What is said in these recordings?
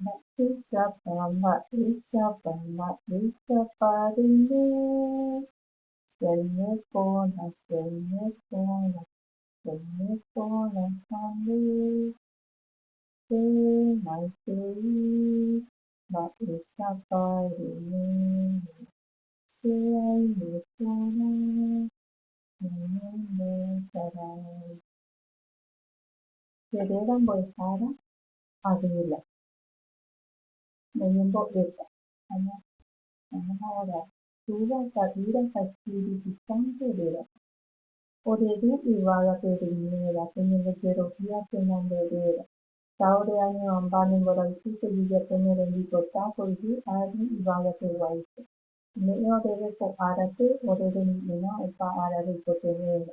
Mba'éichapa, mba'éichapa, mba'éichapa reime che aime porã, che aime porã, che aime porã ha nde hemaitei, mba'éichapa reime che aime porã ñanembosarái. Cheréra mbo'ehára Adela, noñembo'éta. Aña añahaguara túva, ta'ýra ha espíritu sánto rérape. Ore ru yvága pe rumiéva, peñembojerovia pe nande réra. Ta ore añe'õmba ne mborayhu pejejapo ne rembipota po yvy ári yvága pe guáicha. Ome'ẽ oréve ko árape ore remi'ĩrã opa ára reikotevẽva.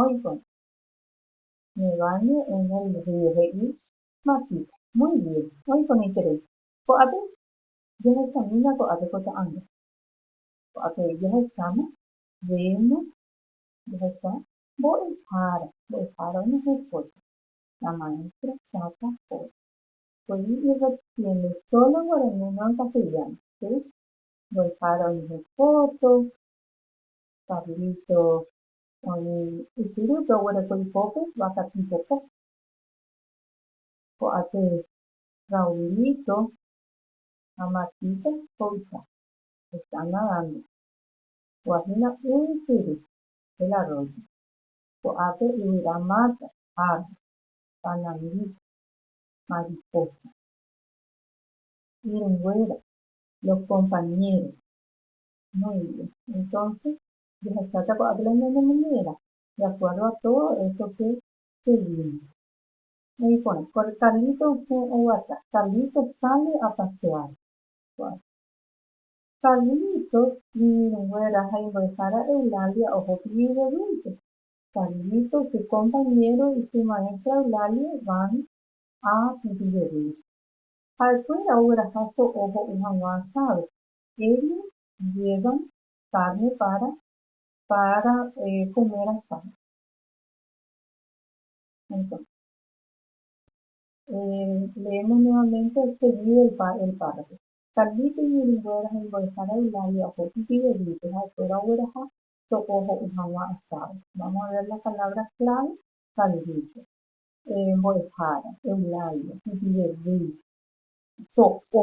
Oĩkõ. Nivane en el río he'i Matita. Muy bien. Oĩkõ neiterei. Ko'ápe jahechamína ko'ápe ko ta'anga. Ko'ápe jahecháma, vemos, jahecha, mbo'ehára, mbo'ehára oime hekóta. La maestra saca foto. Poyvi irrepitiendo solo guaraní no en castellano, si? Mbo'ehára oime hekóto, Carlito oĩ ypyrúpe oguereko ipópe vaka tipopo. Ko'ápe Raulito ha Matita ho'ita heta nadando. Ho'ahína y ypyry, el arroyo. Ko'ápe yvyra mata, árbol, panangíta, mariposa. Irũnguéra, los compañeros, Noemi. Entonce, jahecháta ko'ápe la ñanemoñe'ẽva, de acuerdo a todo esto que se vino. He'i porã, Carlito osẽ oguata. Carlito sale a pasear. Ko'ápe. Carlito iñirũnguéra ha imbo'ehára Eulalia oho pi'i devuélta. Carlito, su compañero y su maestra Eulalia van a pi'i devuélta. Ha'ekuéra ogueraha so'o ho'u hag̃ua asádo. Éri ndiéva kárne pára pára kome rasáva. Entónse, leémos nuevamente seguido el pa, el párrafo. Carlito iñirũnguéra ha imbo'ehára Eulalia oho ijyvegýpe ha'ekuéra ogueraha to'o ho'u hag̃ua asado. Vamos a ver la palabra clave, Carlito. Mbo'ehára, Eulalia, ijyvegýipe, so'o.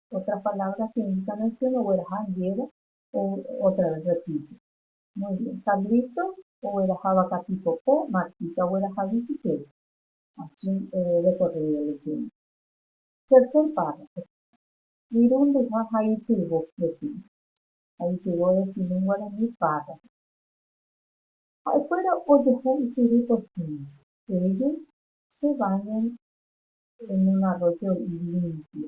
otra palabra que indica nación ogueraha ndéve o otra vez repite muy bien Carlito ogueraha vaka tipo po Martita ogueraha bicicleta asi de corrido leyendo tercer párrafo irundyha ha ityvo decimos ha ityvo decimos en guarani párrafo ha'ekuéra ojehu ysyry porcino ellos se bañan en un arroyo limpio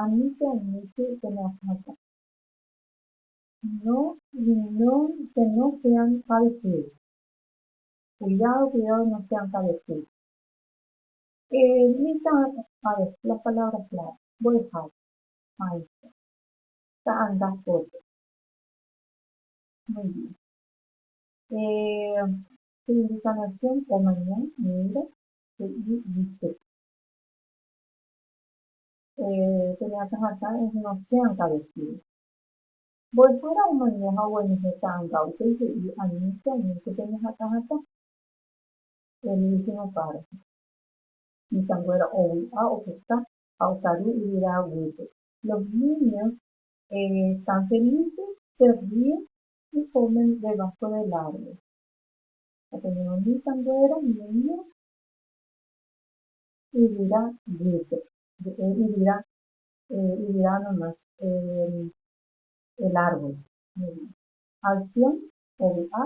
Ani che añete che neakãta. No, no, que no sean parecidos. Cuidado, cuidado no sean parecidos. Ermita, a ver, las palabras clave. Mbo'ehára. Maestra. Ta'anga foto. Muy bien. Eh, su indicación, omaña, mira, he'i, dice. Peña akãhatã es inocénta decir. Mbo'ehára omaña ha oguenohẽ ta'ãnga upéi he'i aníke aníke peña akãhatã. Él dice una parte. Mitãnguéra ovy'a opuka ha okaru yvyra guýpe. Los niños están felices, se ríen y comen debajo del árbol. Openórõ mitãnguéra niño. Yvyra guýpe. Mbe'e yvyra. Yvyra nomás. El árbol. Alcyon ovy'a,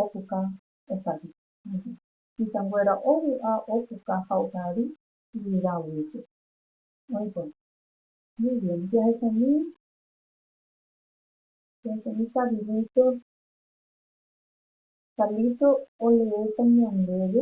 opuka, okaru. Isanguéra ovy'a, opuka ha okaru yvyra guýpe. Oĩ porã. Muy bien. Jahechañy, jahechañy Carlito. Carlito oleéta ñandéve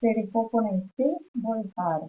Chereho porãite mbo'ehára.